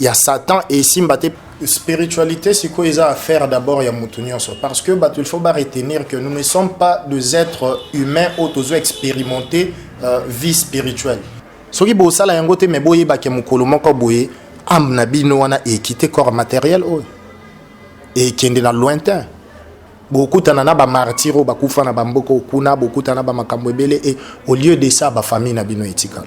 ya satan esimba te spiritualité sikoyo eza affaire d'abord ya motu nyonso parce que bato il faut ba retenir que nous ne sommes pas des êtres humains oyo tozo expérimenter euh, vie spirituelle soki bosala yango te me boyebake mokolo moko boye ame na bino wana ekite corps matériel oyo ekende na lointain bokutana na bamartire oyo bakufa na bamboka okuna bokutana na bamakambo ebele e au lieu de ça bafamille na bino etikala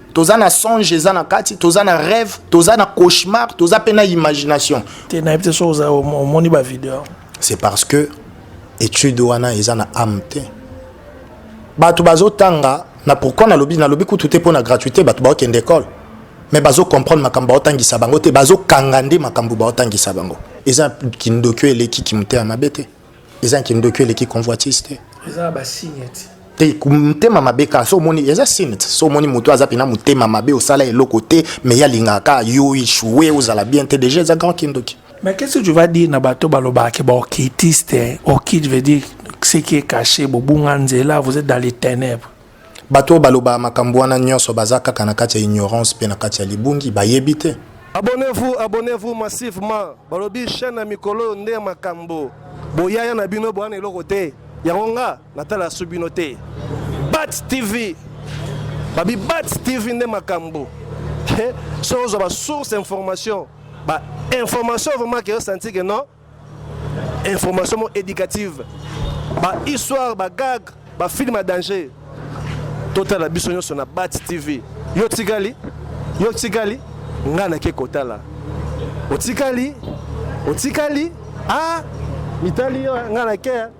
toza na songe eza na kati toza na rêve toza na cauchemar toza mpe na imagination te nayebi te soki omoni bavideo c'est parce que étude wana eza na ame te bato bazotanga na pourquoi nalobi nalobi kutu te mpo na gratuité bato baokende ekole mais bazocomprendre makambo baotangisa bango te bazokanga nde makambo baotangisa bango eza kindoki oyo eleki kimotema mabe te eza na kindoki eleki convoitise te eza ba signe ti te motema mabe kaka so omoni eza signe ti so omoni moto aza mpena motema mabe osala eloko te mais ye alingaka yo echoue ozala bien te déjà eza grand kindoki mais qu'est-ce que tu vas dire na bato balobaka ke baokitiste okite veut dire ce qui est caché bobunga nzela vous êtes dans les ténèbres Bato oyo balobaka makambo wana nyonso baza kaka na kati ya ignorance mpe na kati ya libungi, bayebi te. Abonnez-vous, abonnez-vous massivement. Balobi chaîne ya mikolo oyo nde makambo. Boyaya na bino boana eloko te. Yango nga natala su bino te. Bat TV. Babi Bat TV nde makambo. Soki ozwa ba source information, ba information vraiment que yo santi que non information mo éducative ba histoire ba gag ba film ya danger totala biso nyonso na bat tv yo tikali yo tikali ngai nake kotala otikali otikali a ah, mitali yo ngai nake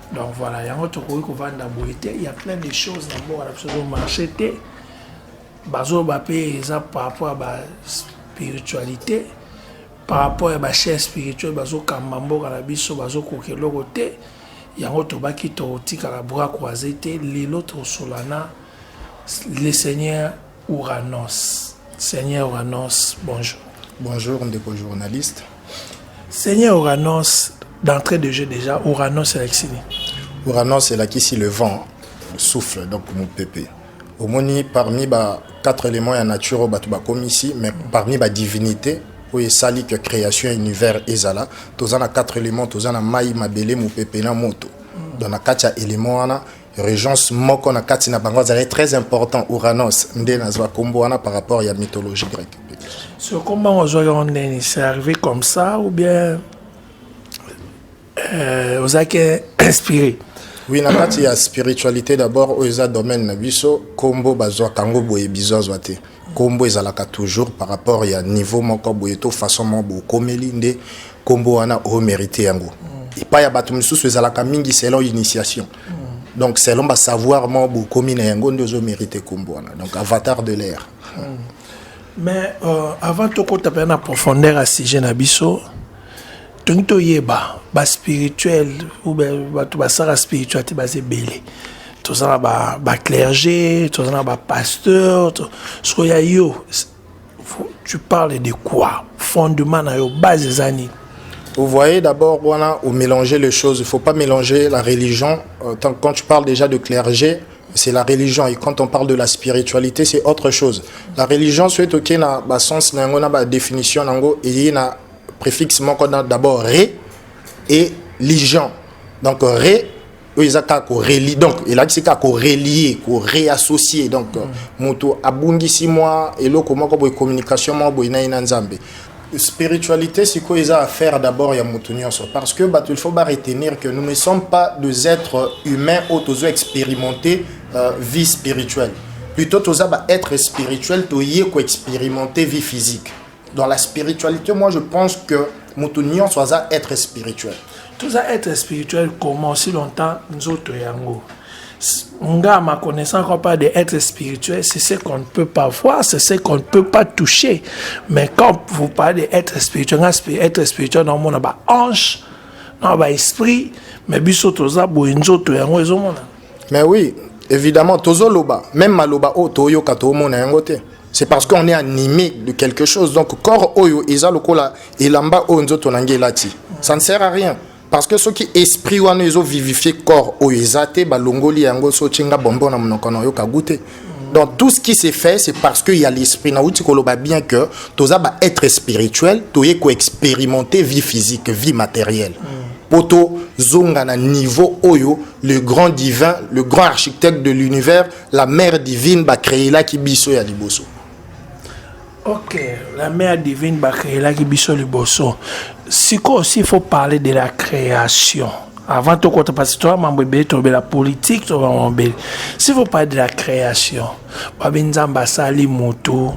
donc voilà yango tokoki kovanda boye te ya plein de choses na mboka na biso ezomarche te bazoloba mpe eza par rapport ya baspiritualité par rapport ya bachaire spirituel bazokamba mboka na biso bazokoka eloko te yango tobaki totikaka bras croise te lelo tosolana le seigneur Ouranos. Seigneur Ouranos, bonjour. Bonjour, ndeko journaliste. Seigneur Ouranos, d'entrée de jeu déjà, Ouranos elakisi nini? Ouranos elakisi le vent, souffle, donc mopepe. omoni parmi ba quatre éléments ya nature oyo bato bakomi ici mais parmi ba divinité oyo esali que création ya univers ezala toza na quatre éléments toza na mai mabele mopepe na moto donc na kati ya élément wana Régence moko na kati na bango azalaki très important Uranos nde nazwa kombo wana par rapport ya mythologie grecque. Sur comment on joue en Denis, c'est arrivé comme ça ou bien euh, aux acquis inspiré Oui, na kati ya spiritualité d'abord, oyo eza domaine na biso, kombo bazwa kango boye bizo azwa te. Kombo ezalaka toujours par rapport ya niveau moko boye to façon moko boye okomeli nde kombo wana o merite yango mm. epai ya bato mosusu ezalaka mingi selon initiation mm. donc selon ba savoir moko boye okomi na yango nde ozo merite kombo wana donc avatar de l'air mm. mais euh, avant tokota mpe na profondeur ya sujet na biso tongi toyeba baspirituel ou bato basala spiritualité baza ebele toza na baclergé toza na bapasteur soko ya yo tu parles de quoi fondement na yo base eza nini Vous voyez d'abord, voilà, ou mélanger les choses. Il ne faut pas mélanger la religion. Euh, quand tu parles déjà de clergé, c'est la religion. Et quand on parle de la spiritualité, c'est autre chose. La religion, c'est ok, na, bah, sens, na, na, bah, définition, na, et na, préfixe moko na d'abord re et ligeant donc re oyo eza kaka korelie donc elakisi kaka korelie koreassocie donc mm. moto abungisi mwa eloko moko boye communication moko boye na ye na nzambe spiritualité sikoyo eza affaire d'abord ya moto nyonso parce que bato il faut ba retenir que nous ne sommes pas des êtres humains oyo tozo expérimenter euh, vie spirituelle plutôt toza ba être spirituel toye koexpérimenter vie physique Dans la spiritualité, moi je pense que moto nyonso aza être spirituel. Toza être spirituel comment si longtemps nzoto yango nga ma connaissance qu'on parle de être spirituel, c'est ce qu'on ne peut pas voir, c'est ce qu'on ne peut pas toucher. Mais quand vous parlez d'être spirituel, être spirituel, non, on a ba hanche, non, ba esprit, mais biso toza bo nzoto yango ezomona. Mais oui, évidemment, tozo loba, même maloba o toyoka to mona yango te. C'est parce qu'on est animé de quelque chose. Donc corps oyo eza lokola elamba oyo nzoto na ngai elati. Ça ne sert à rien. Parce que ceux qui esprit wana ezo vivifier corps oyo eza te balongoli yango so tinga bonbon na monoko na yo ka goûter. Donc tout ce qui s'est fait, c'est parce qu'il y a l'esprit. Naouti Koloba bien que tous les être spirituel, tous les expérimenter vie physique, vie matérielle. Mm. Poto zonga na niveau oyo, le grand divin, le grand architecte de l'univers, la mère divine, ba créé là qui biso ya liboso. Ok, la mère divine ba créelaki biso liboso. Siko aussi il faut parler de la création. Avant tout côté parce que toi mambo ebele to la politique to mambo ebele. S'il faut parler de la création. Ba benzamba sali moto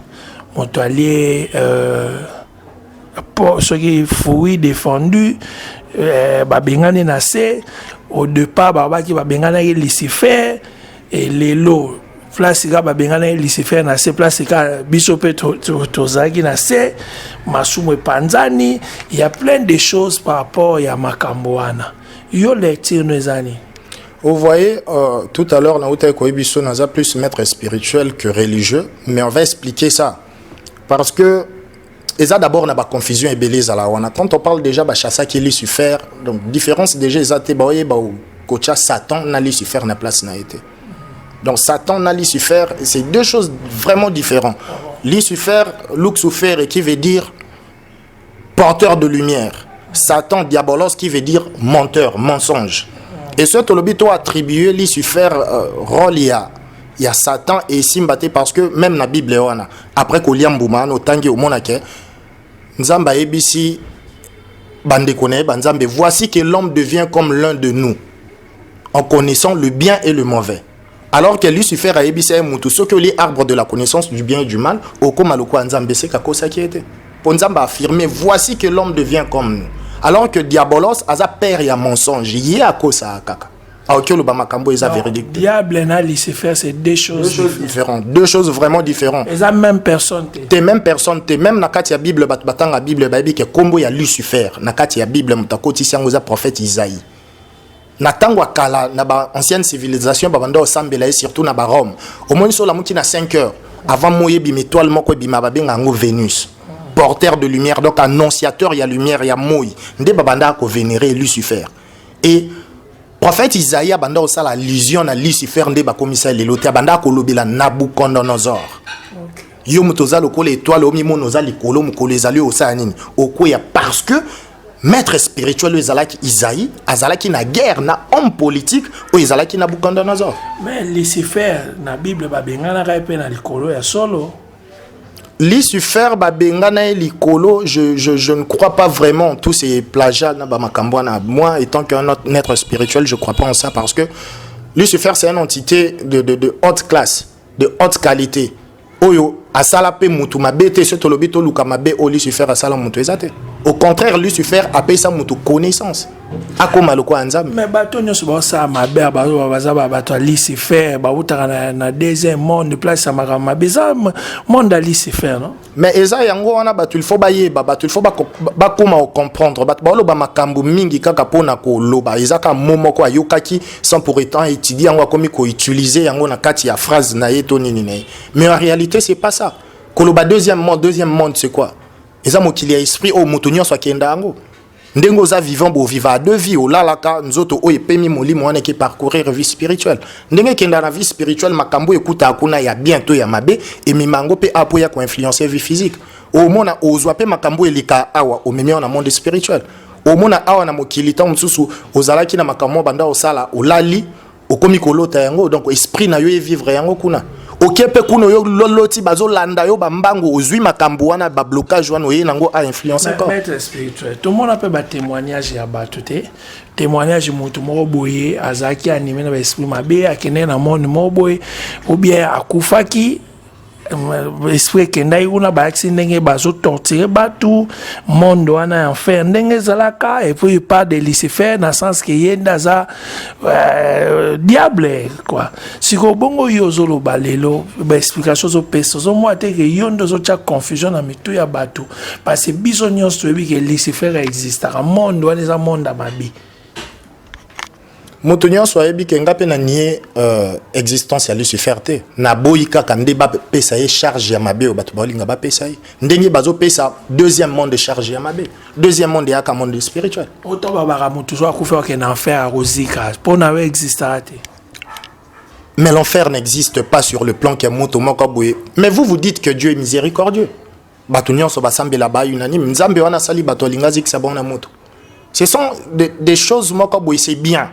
moto alie euh pour ce qui fruit défendu euh, babengani na se au départ babaki babenganaki lucifer et lelo place kaka babenganaki lucifer na se place kaka biso mpe tozalaki na se masumu epanzani ya plein de choses par rapport ya makambo wana yo lecture no eza nini Vous voyez, euh, tout à l'heure, Naouta Koebiso n'a plus maître spirituel que religieux, mais on va expliquer ça. Parce que eza d'abord na ba confusion ebele ezala wana quand on parle déjà bachasaki lucifer donc différence déjà eza te baoyeba kotya satan na lucifer na place na ye te donc satan na lucifer c'est deux choses vraiment différentes lucifer luxufere qui veut dire porteur de lumière satan diabolos qui veut dire menteur mensonge et ce tolobi to attribuer lucifer euh, rôle ya ya satan esimba te parce que même na bible wana après kolia mbuma wana otangi omona ke nzambe ayebisi bandeko na ye banzambe voici que l'homme devient comme l'un de nous en connaissant le bien et le mauvais alors que lucifer ayebisa ye motu soki olie arbre de la connaissance du bien et du mal okoma lokola nzambe eseka akosaki ye te mpo nzambe affirme voici que l'homme devient comme nous alors que diabolos aza père ya mensonge ye akosaka kaka aoki ah, oloba makambo eza véridique diable na lucifer c'est deux choses, deux choses différentes deux choses vraiment différentes eza même personne te te même personne te même na kati ya bible bato batanga bible bayebi ke nkombo ya lucifer na kati ya bible moto akotisi yango eza prophète isaïe na ntango ya kala na baancienne civilisation babanda osambela ye surtout na barome omoni so olamuki na 5 heures avant moi ebima étoile moko ebima babenga yango vénus porteur de lumière donc annonciateur ya lumière ya moi nde babandaka kovénéré lucifer et prophète isaïe abanda kosala allusion na lucifer nde bakomisa ye lelo te abanda kolobela nabucodonosor okay. yo moto oza lokola etoile omimona oza likolo mokolo ezali oyo osala nini okweya parce que maître spirituel oyo ezalaki isaïe azalaki na guerre na homme politique oyo ezalaki nabucodonosor mais lucifer na bible babenganaka ye mpe na likolo ya solo Lucifer babengana ye likolo je, je, je ne crois pas vraiment tous ces plagiats na bamakambo wana moi étant qu'un autre maître spirituel je crois pas en ça parce que Lucifer c'est une entité de, de, de haute classe de haute qualité oyo asala mpe mutu mabe te soki tolobi toluka mabe oyo Lucifer asala mutu eza te au contraire Lucifer apesa mutu connaissance akoma lokola nzambe me bato nyonso baosala mabe baza bato ya lucifer bautaka na, na deuxième monde place ya makambo mabe eza monde ya lucifer no mais eza yango wana bato ilfo bayeba bato ilfo bakoma kocomprendre bato baoloba makambo mingi kaka mpo na koloba eza kaka mo moko ayokaki sans pour étant étudie yango akomi koutilize yango na kati ya phrase na ye to nini na ye mais en réalité c'est pas ça koloba deuxième monde deuxième monde c'est quoi eza mokili ya esprit oyo moto nyonso akenda yango ndenge oza vivant boviva a deux vie olalaka nzoto oyo epemi molimo wana eke parcourir vie spirituelle ndenge ekenda na vie spirituelle makambo oyo ekutaka kuna ya bien to ya mabe emema yango mpe apo ya koinfluence vie physique omona ozwa mpe makambo oyo eleka awa omemi awa na monde spirituel omona awa na mokili ntango mosusu ozalaki na makambo banda osala olali okomi kolota yango donc esprit na yo evivre yango kuna oke mpe kuna oyo loloti bazolanda yo bambangu ozwi makambo wana bablocage wana oye nango a influence maître spirituel tomona mpe batémoignage ya bato te témoignage moto moko boye azalaki anime na baesprit mabe akendeki na monde moko boye obien akufaki esprit ekendaki kuna bayakisi ndenge bazotortire bato monde wana ya enfer ndenge ezalaka epuis pas de lucifer na sens ke ye nde aza euh, diable kua sikoyo bongo yo ozoloba lelo baexplication ozopesa ozomona te ke yo nde ozotya confusion na mitu ya bato parce biso nyonso toyebi ke lucifer existaka monde wana eza monde ya mabe moto nyonso ayebi ke nga mpe na nie euh, existence ya lucifer te naboyi kaka nde bapesa ye charge ya mabe oyo bato baolinga bapesa ye ndenge bazopesa deuxième monde charge ya mabe deuxième monde eyaka monde spirituel oto babaka moto so akufi oke na enfer akozika mpo na yo existaka te mais l'enfer n'existe pas sur le plan que moto moko boye mais vous vous dites que dieu est miséricordieux bato nyonso basambela ba unanime nzambe wana asali bato alingi azikisa bango na moto ce sont des de choses moko boye c'est bien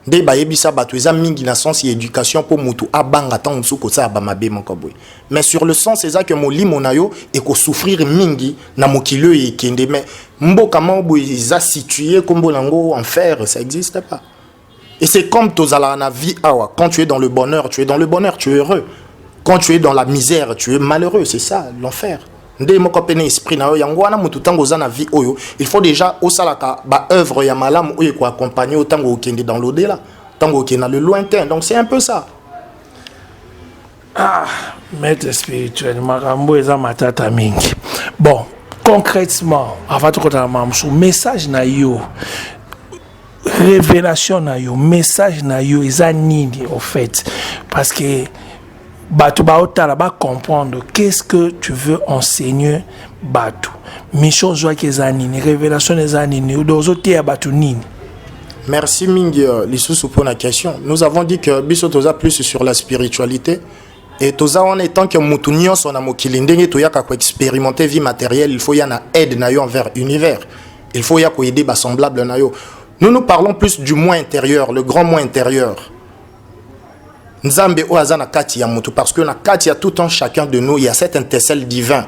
nde bayebisa bato eza mingi na sens ya éducation mpo motu abanga ntango mosusu kosala bamabe moko boye mais sur le sens eza ke molimo na yo ekosouffrir mingi na mokili oyo ekende mais mboka moko boye eza situe nkombo na yango enfer ça existe pas Et c'est comme tozala na vie awa. Quand tu es dans le bonheur, tu es dans le bonheur, tu es heureux. Quand tu es dans la misère, tu es malheureux, c'est ça l'enfer. nde moko mpe na esprit na yo yango wana moto ntango oza na vie oyo il faut déjà osalaka baœuvre ya malamu oyo ekoaccompagne yo ntango okende dans l'odela ntango okende na le lointain donc c'est un peu ça Ah, maître spirituel, makambo eza matata mingi. Bon, concrètement, avant tout kota mamsu, message na yo, révélation na yo, message na yo eza nini au fait? Parce que bato baotala ba comprendre qu'est-ce que tu veux enseigner bato mission ozwaki eza nini révélation eza nini ozoteya bato nini Merci mingi euh, lisusu pour la question. Nous avons dit que biso toza plus sur la spiritualité et toza en étant que mutu nyonso na mokili ndenge toyaka ko expérimenter vie matérielle, il faut ya na aide na yo envers univers. Il faut ya ko aider ba semblable na yo. Nous nous parlons plus du moi intérieur, le grand moi intérieur. Nzambe oyo aza na kati ya mutu parce que na kati ya tout un chacun de nous, il y a cette intercelle divin.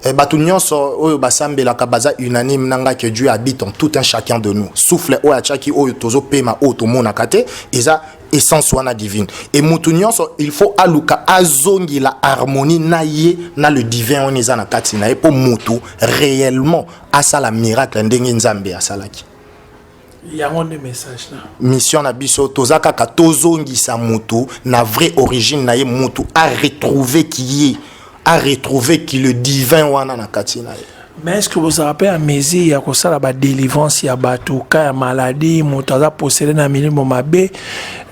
Eh, bato nyonso oyo basambelaka baza unanime na ngai que dieu habite en tout un chacun de nous souffle oyo atiaki oyo tozopema oyo tomonaka te eza essence wana divine e moto nyonso il faut aluka azongela harmonie na ye na le divin wana eza na kati na ye mpo moto réellement asala miracle ndenge nzambe asalaki yango nde message na mission na biso toza kaka tozongisa motu na vraie origine na ye motu a retrouver qui ye a retrouver qui le divin wana na kati na ye mais est ce que bozalaka mpe ya mesure ya kosala badelivrance ya bato ka ya maladie moto aza posele na milimo mabe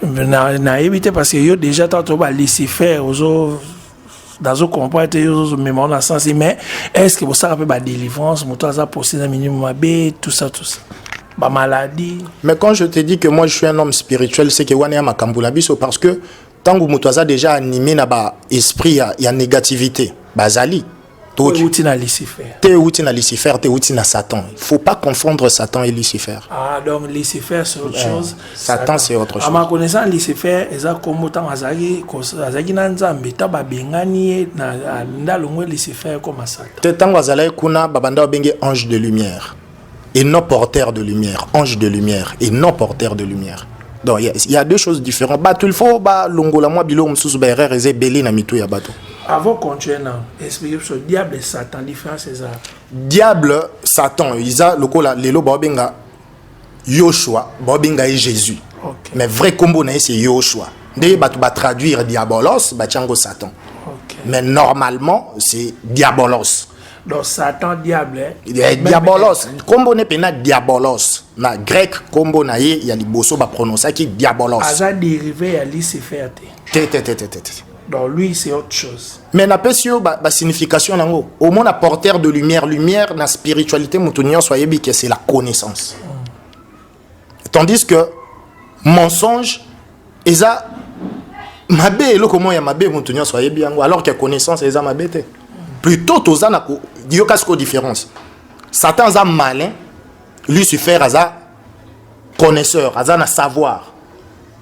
nayebi te parce que yo déjà tanto ba lucifer ozo nazo comprendre te yozo mema on a sens mais est ce que bosaka pe ba délivrance moto aza posé na minimum mabe tout ça tout ça ba maladie mais quand je te dis que moi je suis un homme spirituel c'est que wana ya makambo na biso parce que tango moto aza déjà animé na ba esprit ya, ya négativité bazali Teo euti na Lucifer. Teo euti na Lucifer, teo euti na Satan. Il faut pas confondre Satan et Lucifer. Ah donc Lucifer c'est autre chose. Satan c'est autre chose. Ama connaissant Lucifer eza kombo tango azali azali na Nzambe ta ba bengani ye na ndalongwe Lucifer comme Satan. Te tango azali kuna babanda obenge ange de lumière. et non porteur de lumière ange de lumière et non porteur de lumière donc il y, y a deux choses différentes bato il faut balongola mwa biloko mosusu baerreur eza ebele na mitu ya bato avant continuer na explique biso diable satan différence eza diable satan eza lokola lelo baobenga yoshua baobenga ye jésus okay. mais vrai nkombo na ye se yoshua nde bato batraduire diabolos batya yango satan okay. mais normalement c'est diabolos Donc Satan diable. Hein? Eh, diabolos. Combo ne pena diabolos. Na grec combo na ye ya liboso ba prononcer qui diabolos. Aza dérivé ya Lucifer te. Te te te te te. Donc lui c'est autre chose. Mais na pesi yo ba, ba signification nango. Au moins na porteur de lumière, lumière na spiritualité mutu nyonso ayebi que c'est la connaissance. Mm. tandis que mensonge eza mabe eloko moko ya mabe moto nyonso ayebi yango alors que connaissance eza mabe te plutôt toza na yoka siko différence satan aza malin lucifer aza connaisseur aza na savoir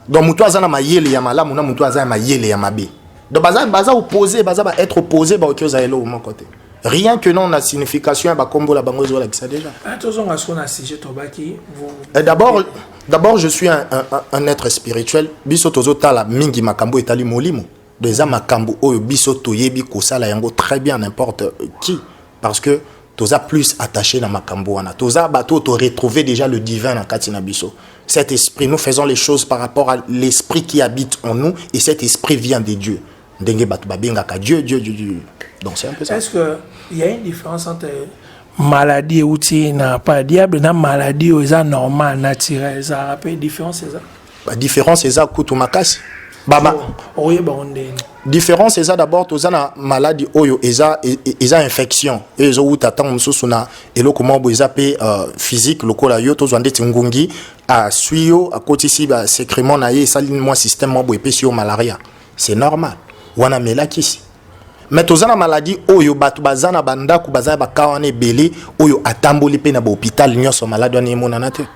donc moto aza na mayele ya malamu na moto aza ya mayele ya mabe donc baza baza opposé baza ba être opposé baoki ozala eloko moko te rien que non na signification ya bakombo na bango ezolakisa déjà ah, tozonga soko na sujet tobaki eh, d'abord d'abord je suis un, un, un être spirituel biso tozotala mingi makambo etali molimo donc eza makambo oyo biso toyebi kosala yango très bien n'importe qui parce que toza plus attaché na makambo wana toza bato to retrouver déjà le divin na kati na biso cet esprit nous faisons les choses par rapport à l'esprit qui habite en nous et cet esprit vient de Dieu ndenge bato babengaka Dieu Dieu Dieu Dieu donc c'est un peu ça est-ce que il y a une différence entre maladie euti na pas diable na maladie oyo eza normal naturel ezalaka mpe différence eza ba différence eza kutu makasi bama oyeba ngo ndenge différence eza d'abord toza na maladi oyo eza e, e, eza infection eyo ezowuta ntango mosusu na eloko moko boye eza mpe euh, physique lokola yo tozwa ndeti ngungi aswi yo akotisi basecrement na ye esali mwa système moko boye epesi yo malaria c'est normal wana melakisi me toza na maladi oyo bato baza na bandako baza na bakaa wana ebele oyo atamboli mpe na bahopital nyonso maladi wana emonana te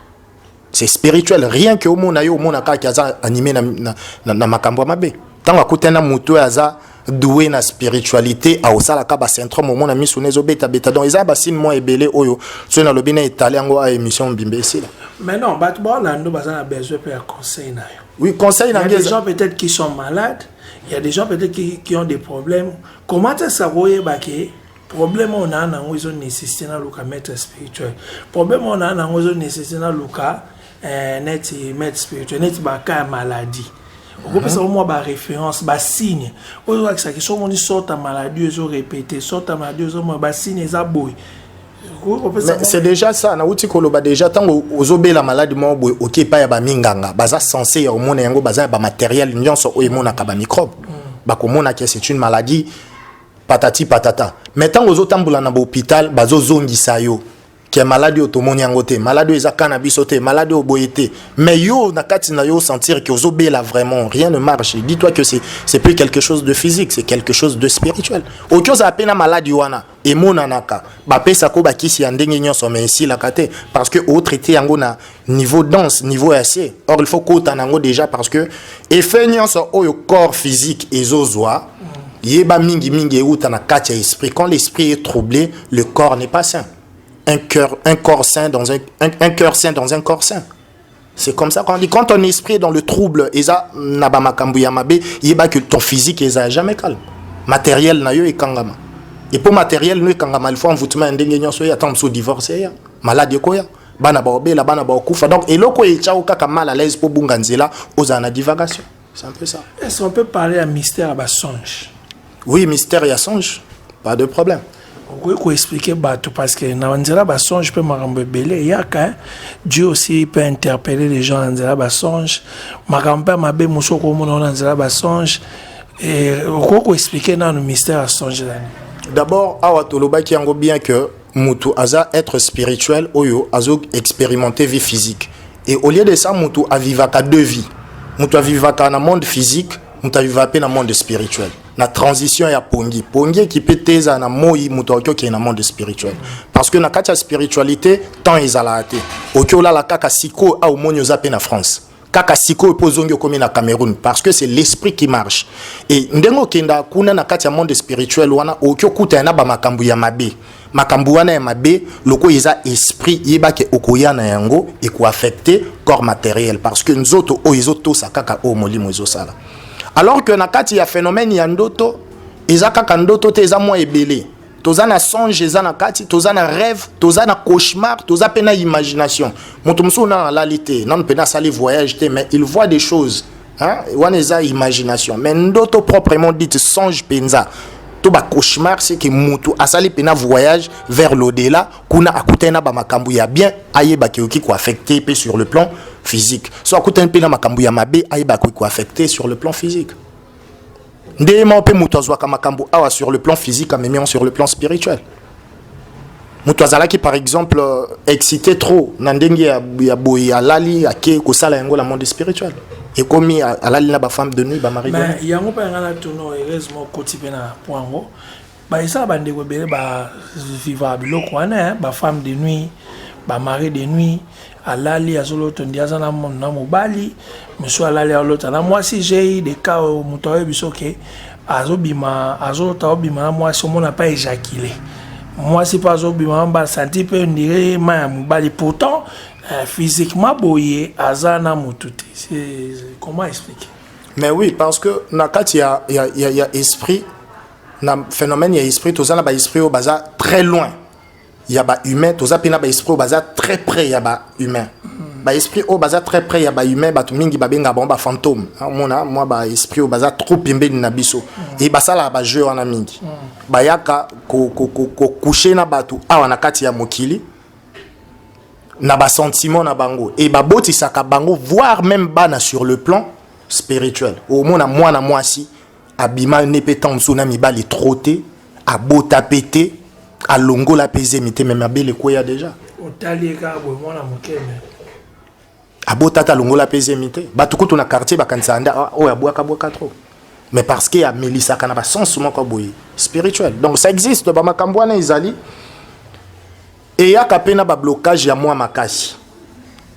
c'est spirituel rien que omona yo omona kaka ke aza anime na, na, na, na makambo ya mabe ntango akutani na moto oyo aza doue na spiritualité aosalaka basyndrome omona miso na ezobetabeta donc eza basine mwa ebele oyo soki nalobi na etale yango a émission mbimba esila mais non bato baolando baza na besoin mpe ya conseil na yo oui conseil na des gens peut-être qui sont malades il y a des gens peut-être qui, qui ont des problèmes comment ça savoir oyebake Problème oyo naa nango ezo nécessité naluka maître spirituel. Problème oyo naa nango ezo nécessité naluka eh, neti maître spirituel, neti ba cas ya maladie. okopesa uh-huh. mwa baréférence basigne oyo ezolakisa ke so omoni sorte ya maladie ezo répété sorte ya maladie ezomona basigne eza boye c'est déjà ça nauti koloba déjà ntango ozobela maladi moko boye oke epai ya baminganga baza sense ya komona yango baza ya bamateriel nyonso oyo emonaka bamicrobe mm. bakomonaka c'est une maladie patati patata mais ntango ozotambola na bahopital bazozongisa yo ke maladi oyo tomoni yango te maladi oyo eza ka na biso te maladi oyo boye te mais yo na kati na yo osentir ke ozobela vraiment rien ne marche dis toi que c'est plus quelque chose de physique c'est quelque chose de spirituel oki ozala mpe na maladi wana emonanaka bapesaka oyo bakisi ya ndenge nyonso mai esilaka te parce que otraite yango na niveau danse niveau ya se or il faut kota na yango déjà parce que effet nyonso oyo corps physique ezozwa yeba mingi mingi euta na kati ya esprit quand l'esprit est troublé le corps n'est pas sain un cœur un corps sain dans un, un, un cœur sain dans un corps sain c'est comme ça qu'on dit quand ton esprit est dans le trouble eza na ba makambo ya mabe yeba que ton physique eza jamais calme matériel na yo ekangama et pour matériel no ekangama il faut envoûtement ya ndenge nyonso ye ata mosusu divorce ya malade ekoya bana baobela bana baokufa donc eloko etiao kaka mal à l'aise mpo obunga nzela ozala na divagation c'est un peu ça est ce qu'on peut parler ya mystère ya basonge oui mystère ya songe pas de problème okoki koexplike bato parce que na nzela basonge mpe makambo ebele eyaka eh. dieu aussi peut interpeller les gens na nzela basonge makambo mpe mabe mosusu okomona na nzela basonge okoki koexplike nano mystère ya songe nani d'abord awa tolobaki yango bien que mutu aza être spirituel oyo azo expérimenter vie physique et au lieu de ça mutu avivaka deux vies mutu avivaka na monde physique mutu avivaka pe na monde spirituel na transition ya pongi pongi ekipe te ezala na moi moto akoki okende na monde spirituel parce que na kati ya spiritualité temps ezalaka te oki olala kaka sikoyo au omoni oza mpe na france kaka sikoyo mpo ozongi okomi na cameroun parce que c'est l'esprit qui marche e ndenge okenda kuna na kati ya monde spirituel wana okoki okutana na bamakambo ya mabe makambo wana ya mabe lokola eza esprit yeba ke okoya na yango ekoaffecte corps matériel parce que nzoto oyo ezotosa kaka oyo molimo ezosala alors que na kati ya phénomène ya ndoto eza kaka ndoto te eza mwa ebele toza na songe eza na kati toza na rêve toza na cauchemar toza mpe na imagination moto mosusu nano alali te nano mpe nasali voyage te mais il voit des choses hein? wana eza imagination mais ndoto proprement dite songe mpenza to bacauchemar seke motu asali mpe na voyage vers l'au-delà kuna akutani na bamakambo ya bien ayebaki oki koaffecte mpe sur le plan physique so akutani mpe na makambo ya mabe ayebaki koaffecte sur le plan physique nde moko mpe moto azwaka makambo awa sur le plan physique amemi yango sur le plan spirituel moto azalaki par exemple euh, excité trop na ndenge ya, ya boye alali ake kosala yango na monde spirituel ekomi alali na bafemme de nuit bamari yango mpe yanga na tono heureusement okoti mpe na po yango Ba esa ba ndeko ebele ba viva biloko wana hein, ba femme de nuit, ba mari de nuit, alali azoloto ndi aza na na mobali, monsieur alali alota na mwasi j'ai des cas moto ayebi soke azobima azolota obima na mwasi omona pa éjaculer mwasi mpe azobima mba santi mpe ondire ma ya mobali pourtant euh, physiquement boye aza na motu te comment expliquer mais oui parce que na kati ya, ya, ya, ya esprit na phénomène ya esprit toza na ba esprit oyo baza très loin ya ba humain toza mpe na ba esprit oyo baza très près ya ba humain ba esprit oyo baza très près ya ba humain bato mingi babenga bango ba fantôme omona mwa ba esprit oyo baza trop pembeni na biso e basalaka ba jeu wana mingi bayaka kokouche na bato awa na kati ya mokili na basentiment na bango e babotisaka bango voire même bana sur le plan spirituel omona mwana mwasi abima ne mpe ntango mosusu na mibali tro te abota mpe te alongola mpe zemi te me mabele ekweya deja abota te alongola mpe zemi te bato kutu na quartier bakanisaka nde ah, oyo abwakabwaka tro mais parce que amelisaka na basense moko boye spirituel donc ça existe bamakambo wana ezali eyaka mpe na bablocage ya mwa makasi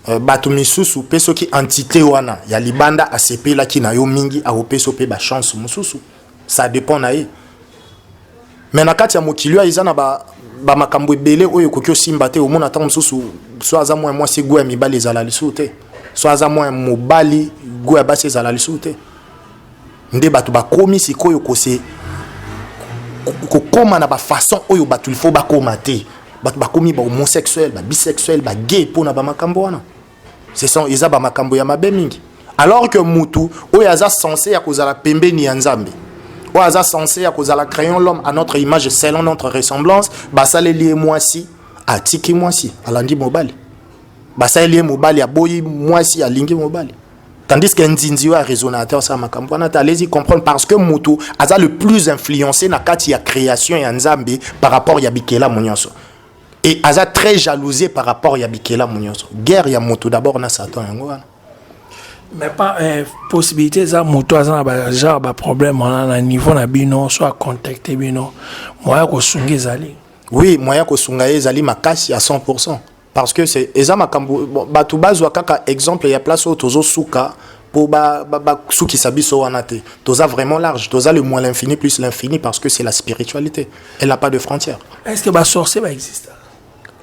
euh, bato misusu mpe soki entité wana ya libanda asepelaki na yo mingi akopesa mpe bachance mosusu ça dépend na ye me na kati ya mokili oyo eza na bamakambo ba ebele oyo ekoki osimba te omona ntango mosusu so aza mwa mwasi go ya mibali ezala lisusu te so aza mwa mobali go ya basi ezala lisusu te nde bato bakomi sikoyo kose kokoma na bafaçon oyo bato ilfo bakoma te bato bakomi bahomosexuel babisexuel bagay mpo na bamakambo wana seson eza bamakambo ya mabe mingi alors que mutu oyo aza sense ya kozala pembeni ya nzambe oyo aza sense ya kozala crayon l'homme à notre image selon notre ressemblance basaleli ye mwasi atiki mwasi alandi mobali basaleli ye mobali aboyi mwasi alingi mobali Tandis que Nzinzi oyo aresonate asala makambo wana te alezi comprendre parce que moto aza le plus influencé na kati ya création ya Nzambe par rapport ya bikelamu nyonso et aza très jalousé par rapport ya bikelamu nyonso guerre ya moto d'abord na Satan yango wana mais pas eh, possibilité eza moto aza na ba genre ba problème wana na niveau na bino so acontacte bino moya kosunga ezali oui moya kosunga ye ezali makasi ya 100 parce que c'est eza makambo bon, bato bazwa kaka exemple ya place oyo tozosuka mpo basukisa ba, ba, biso wana te toza vraiment large toza le moins l'infini plus l'infini parce que c'est la spiritualité elle n'a pas de frontière est ce que basorcier baexiste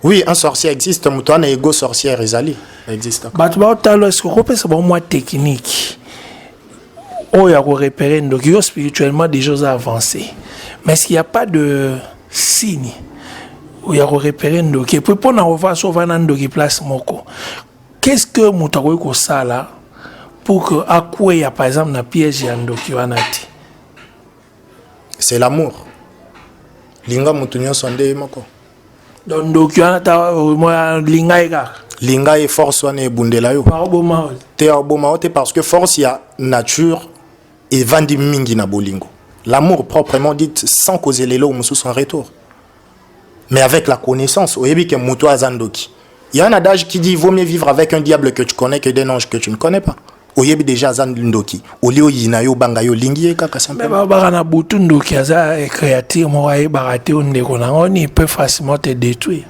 oui un sorcier existe moto wana ego sorcière ezali existe bato baotalo est ce que okopesa bango mwa technique oyo ya ko repere ndoki yo spirituellement déjà oza avancé mais s'il y a pas de signe ya ko repere ndoki epuis mpo na ova so ova na ndoki place moko qu'est ce que moto akoki kosala pour que akweya par exemple na piège ya ndoki wana te c'est l'amour linga moto nyonso ande ye moko donc ndoki wana ta linga ye kaka linga ye force wana ebundela yo te oboma yo te parce que force ya nature evandi mingi na bolingo l'amour proprement dit sans kozelela oyo mosusu en retour mais avec la connaissance oyebi ke moto aza ndoki il y a un adage qui dit vaut mieux vivre avec un diable que tu connais que d'un ange que tu ne connais pas oyebi déjà aza ndoki olie oyina yo obanga yo olingi ye kaka simplementbabaka na butu ndoki aza créature moko ayebaka te o ndeko na yango ni peut facilement te détruire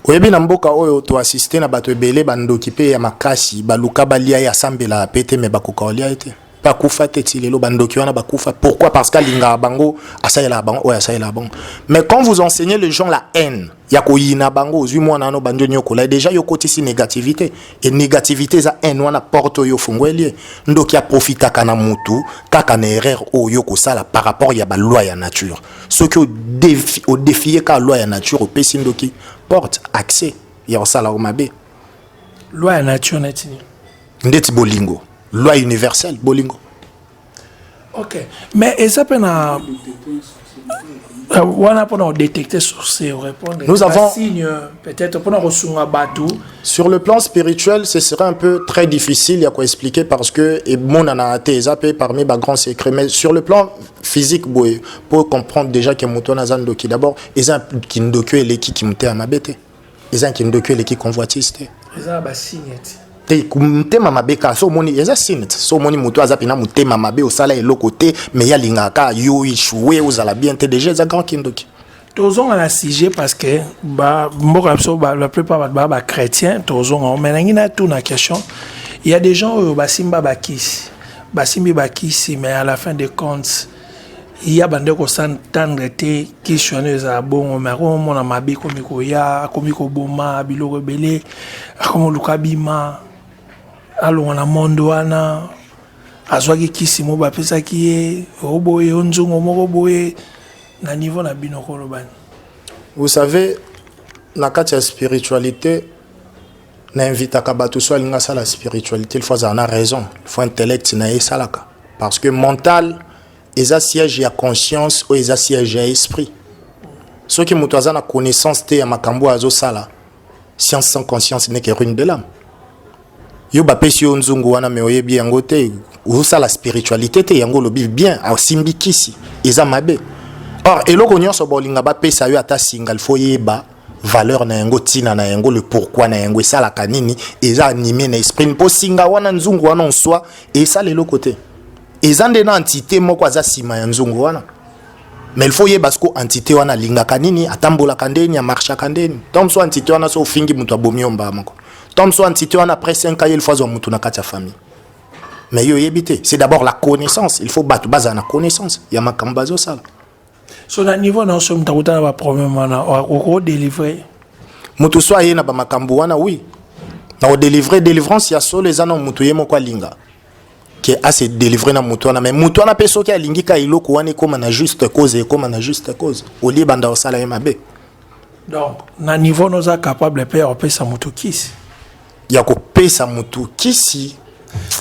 oyebi na mboka oyo toassiste na bato ebele bandoki mpe ya makasi baluka balia ye asambelaka mpe te me bakoka olia ye te bakufa te ti lelo bandoki wana bakufa pourquoi parce que alingaka bango asalelaka bango oyo asalelaka bango mais quand vous enseignez les gens la haine ya koyina bango ozwi mwana wana obandi onyokola deja yo okotisi négativité e négativité eza haine wana porte oyo ofungweli ye ndoki aprofitaka na mutu kaka na erreur oyo okosala par rapport ya baloi ya nature soki odefie kaka loi ya nature opesi ndoki porte accès ya kosalaka mabe loi ya nature neti nini ndeti bolingo loi universelle bolingo ok mais eza mpe na euh, wana mpona kodetecte source orépondre nous avons signe peut-être mpona kosunga bato sur le plan spirituel ce serait un peu très difficile ya koexpliquer parce que emonana te eza mpe parmi bagrand secret mais sur le plan physique boye mpo comprendre déjà ke moto wana aza ndoki d'abord eza kindoki oyo eleki kimotema mabe te eza na kindoki eleki convoitise te eza ba signe te te motema mabe kaka so omoni eza signe te so omoni moto aza mpena motema mabe osala eloko te me ye alingaka kaka yo echoue ozala bien te deja eza grand kindoki tozonga na sujet parce que ba mboka na biso la plupart bato baa bachrétien tozonga yango mai nangi natuna question ya des gens oyo basimba bakisi basimbi bakisi mais à la fin de compte ya bande kosantandre te kisi wana ezala bongo me akomona mabe ekomi koya akomi koboma biloko ebele akomi oluka bima alongwa na monde wana azwaki kisi mo bapesaki ye oboye o nzongo moko boye na niveau na bino kolobani vous savez na kati ya spiritualité na invitaka bato so alingi asala spiritualité il faut azala na raison il faut intellect na ye esalaka Parce que mental eza siège ya conscience oyo eza siège ya esprit. Soki moto aza na connaissance te ya makambo azo sala, science sans conscience n'est que ruine de l'âme. Yo bapesi yo nzungu wana mais oyebi yango te, osala spiritualité te yango olobi bien, asimbi kisi, eza mabe. Or eloko nyonso bolinga bapesa yo ata singa, il faut yeba valeur na yango tina na yango le pourquoi na yango esalaka nini eza anime na esprit mpo singa wana nzungu wana oswa esala eloko te eza nde na entité moko aza nsima ya nzungu wana mais il faut yeba siko entité wana alingaka nini atambolaka ndeni amarchaka ndeni tom so entité wana so ofingi moto abomi yo mbaa moko tom so entité wana après 5 aye il faut azwa moto na kati ya famille mais yo oyebi te c'est d'abord la connaissance il faut bato bazala na connaissance ya makambo bazosala so na niveau na oso mutakutana ba problème wana oko délivrer mutu so aye na ba makambo wana oui na ko délivrer délivrance ya solo eza na mutu ye moko alinga ke a se délivrer na mutu wana mais mutu wana pe soki alingi ka eloko wana ekoma na juste cause ekoma na juste cause olie banda osala ye mabe donc na niveau noza capable pe opesa mutu kisi ya kopesa motu kisi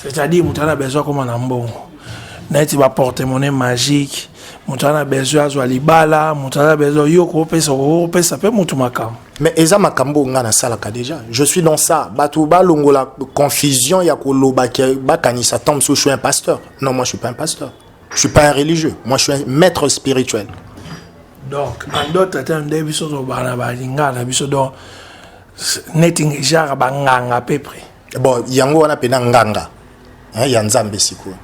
c'est-à-dire moto ana besoin akoma na mbongo neti baportemone magique moto ana besoin azwa libala moto ana besoin yo kopesa kopesa mpe motu makambo mais eza makambo oyo ngai nasalaka déjà je suis dans ça bato balongola confusion ya koloba ke bakanisa temps mosusu je suis un pasteur non moi je suis pas un pasteur je suis pas un religieux moi je suis un maître spirituel donc en d'autres termes nde biso tobana balingana biso donc neti genre banganga à peu près bon yango wana mpena nganga hein, ya nzambe sikoyo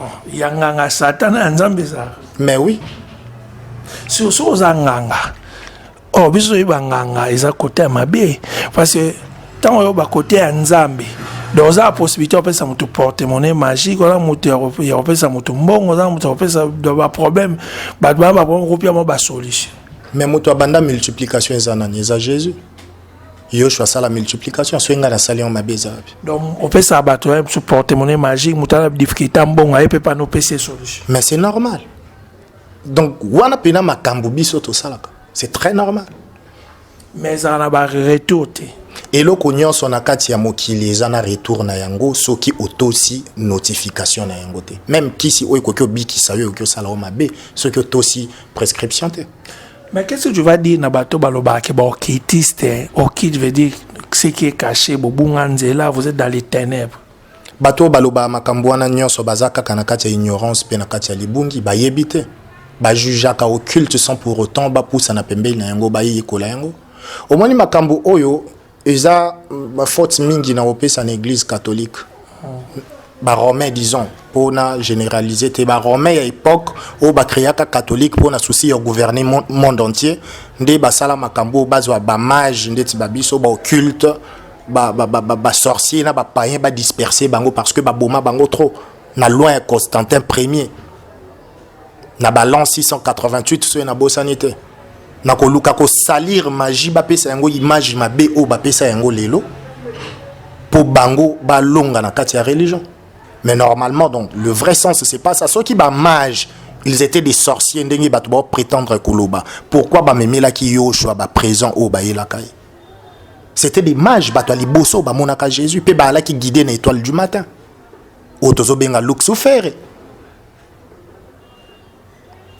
oh, ya nganga satana ya nzambe ezalaka mais oui surso oza nganga o oh, biso toyeba nganga eza kote ya mabe parce que ntango oyo bakote ya nzambe donc oza possibilité opesa moto portemone magique oza moto ya kopesa moto mbongo oza moto ya kopesa baproblème bato baa baproblème kopia mwa basolution mais moto abanda multiplication eza nani eza jésus yoshua asala multiplication soki ngai nasali yango mabe eza wapi donc opesaka bato ya biso portemone magique moto ana difficulté ya mbongo aye mpe pana opesa solution mais c'est normal donc wana mpena makambo biso tosalaka c'est très normal mais ezala na ba retour te eloko nyonso na kati ya mokili eza na retour na yango soki otosi notification na yango te meme kisi oyo ekoki obikisa yo ekoki osala yo mabe soki otosi prescription te Mais qu'est-ce que tu vas dire na bato balobaka ke baokitiste okite veut dire ce qui est caché bobunga nzela vous êtes dans les ténèbres Bato oyo balobaka makambo wana nyonso baza kaka na kati ya ignorance mpe na kati ya libungi, bayebi te. Ba jugeaka occulte sans pour autant bapusana pembeni na yango, bayekola yango. Omoni makambo oyo eza ba faute mingi na kopesa na eglise catholique. Ba romain disons mpo na generaliser te, ba romain ya epoque oyo ba creaka catholique mpo na souci ya gouverner mon- monde entier nde basala makambo oyo bazwa ba mage ndeti ba biso ba occulte ba ba ba, ba, ba sorcier na ba païen ba disperser bango parce que ba boma bango trop na loin ya Constantin premier na balance 688 soki na bosani te na koluka kosalir magie bapesa yango image mabe oyo bapesa yango lelo mpo bango balonga na kati ya religion mais normalement donc le vrai sens c'est pas ça soki bamage ils étaient des sorciers ndenge bato baoprétendre koloba pourquoi bamemelaki yoshua baprésent oyo bayelaka ye C'était des mages, bato ya liboso bamonaka Jésus mpe baalaki guide na étoile du matin oyo tozobenga luxufere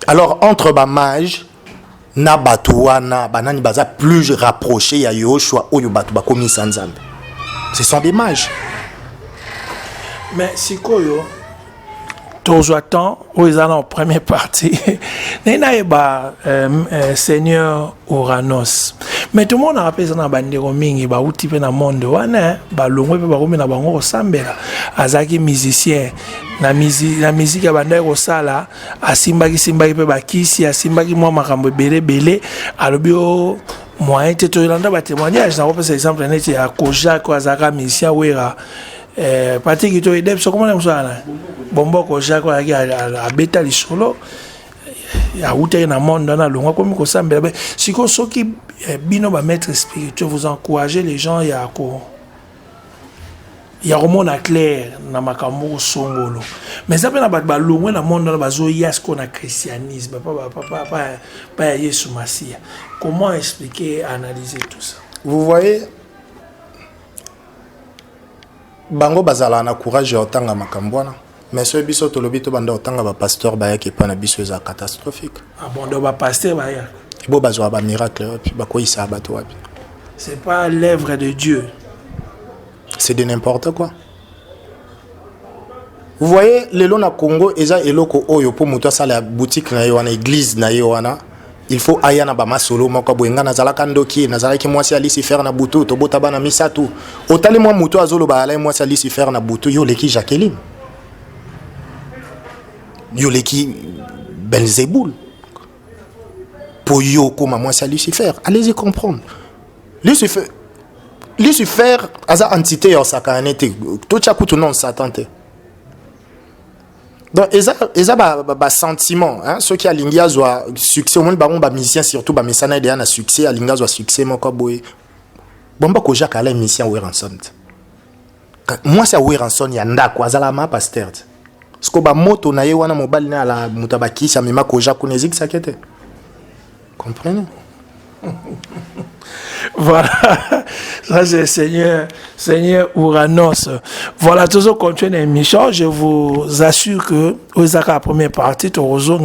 alors entre bamage na bato wana banani baza plus rapproché ya yoshua oyo bato bakomisa nzambe ce sont des mages mais sikoyo tozwa temps oyo eza na première partie naye nayeba euh, euh, seigneur oranos mais tomonaka mpe eza na bandeko mingi bauti mpe na monde wana balongwe mpe bakomi na bango kosambela azalaki musicien na miziki abandaki kosala asimbaki simbaki mpe bakisi asimbaki mwa makambo ebele ebele alobi o oh, moyen te toyelanda batémoignage nakopesa exemple neti ya kojak oyo azalaka musicien wera Eh, pati kito edep soko mona mosala na bomboko jacques ayaki abeta lisolo awutaki na monde wana alongwa komi kosambela be sikoyo soki eh, bino bamaître spirituel vous encouragez les gens ya ko ya komona claire na makambo kosongolo mais eza mpe na bato balongwe na monde wana bazoya sikoyo na christianisme pa ya yesu masiya comment expliquer analyser tout ça vous voyez bango bazalaka na courage ya kotanga makambo wana mais soki biso tolobi tobanda kotanga bapasteur bayaki epai na biso eza catastrophique ah bon, donc bapasteur baya bo bazwa bamiracle wapi bakweyisaka bato wapi c'est pas l'œuvre de dieu c'est de n'importe quoi vous voyez lelo na congo eza eloko oyo mpo moto asala boutique na ye wana église na ye wana il faut aya na bamasolo moko boye ngai nazalaka ndoki nazalaki mwasi ya lucifer na butu tobota bana misato otali mwa motu azoloba alai mwasi ya lucifer na butu yo oleki jacqueline yo oleki belzebul mpo yo okóma mwasi ya lucifer allez-y comprendre lucifer lucifer aza entité ya osakana ne te totya kutu non satan te donc eza eza ba, ba, ba sentiment hein soki alingi azwa succès omoni bango ba musicien surtout ba mesana ye deya na succès alingi azwa succès moko boye bomba koja kala emission weranson mwasi ya weranson ya ndako azalaka ma pasteur te siko bamoto na ye wana mobali na ala moto ya bakisi amema koja kuna ezikisaki te Comprenez? voilà, ça c'est Seigneur, Seigneur Uranos. Voilà, tous au contenu émission, je vous assure que vous avez la première partie, tu reçois,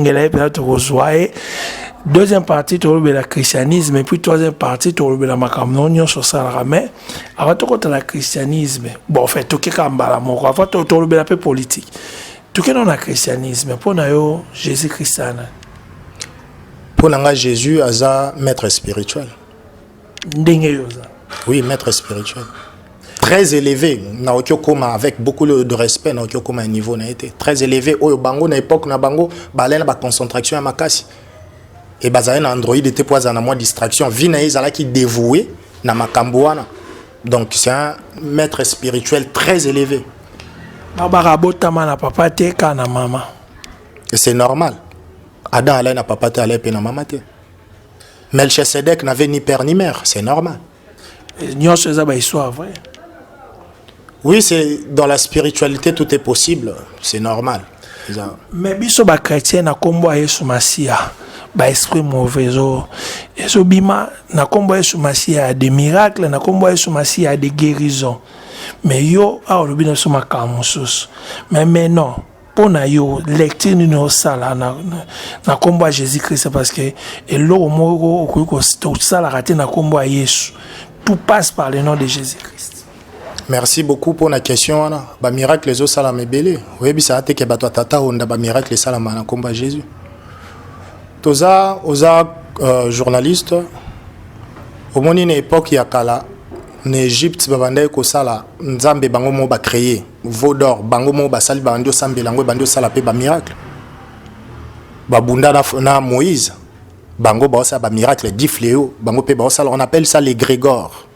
deuxième partie tu le christianisme et puis troisième partie tu le la makambo nyonso osalaka mais avant tokotala christianisme bon en fait tokeka mbala moko avant tolobela mpe politique tokenda na christianisme mpo na yo jésus christ ana Mpo na nga Jesus aza maître spirituel. Ndenge yo oza. Oui, maître spirituel. Très élevé, na okokoma avec beaucoup de respect na okokoma niveau na été. Très élevé oyo bango na époque na bango balai na ba concentration ya makasi. Et bazali na Android était pour na moi distraction. Vie na ezalaki dévoué na makambo wana. Donc c'est un maître spirituel très élevé. Baba rabotama na papa te kana mama. C'est normal. Adam alai na papa te, alai pe na mama te. Melchisedec n'avait ni père ni mère, c'est normal. Nyonso eza ba histoire vrai. Oui, c'est dans la spiritualité tout est possible, c'est normal. Eza... Mais biso ba chrétien na kombo ya Yesu Masiya, ba esprit mauvais ezo ezo bima na kombo ya Yesu Masiya des miracles, na kombo ya Yesu Masiya des guérisons. Mais yo aolobi na biso makambo mosusu. Mais mais non, mpo na yo lecture nini osala na, na, na nkombo ya jésus christ parce que eloko moko okoki kosalaka te na nkombo ya yesu tout passe par le nom de jésus christ merci beaucoup mpo na question wana bamiracle ezosalama ebele oyebisaka te ke bato ya tata onda bamiracle esalama na nkombo ya jésus toza oza uh, journaliste omoni na epoke ya kala na egypte babandaki kosala nzambe bango moko bacreye Veau d'or bango moko basali bandi osambela yango ebandi osala mpe ba miracle babunda na, na moïse bango baosala ba miracle di fleo bango mpe baosala on appelle ça les grégore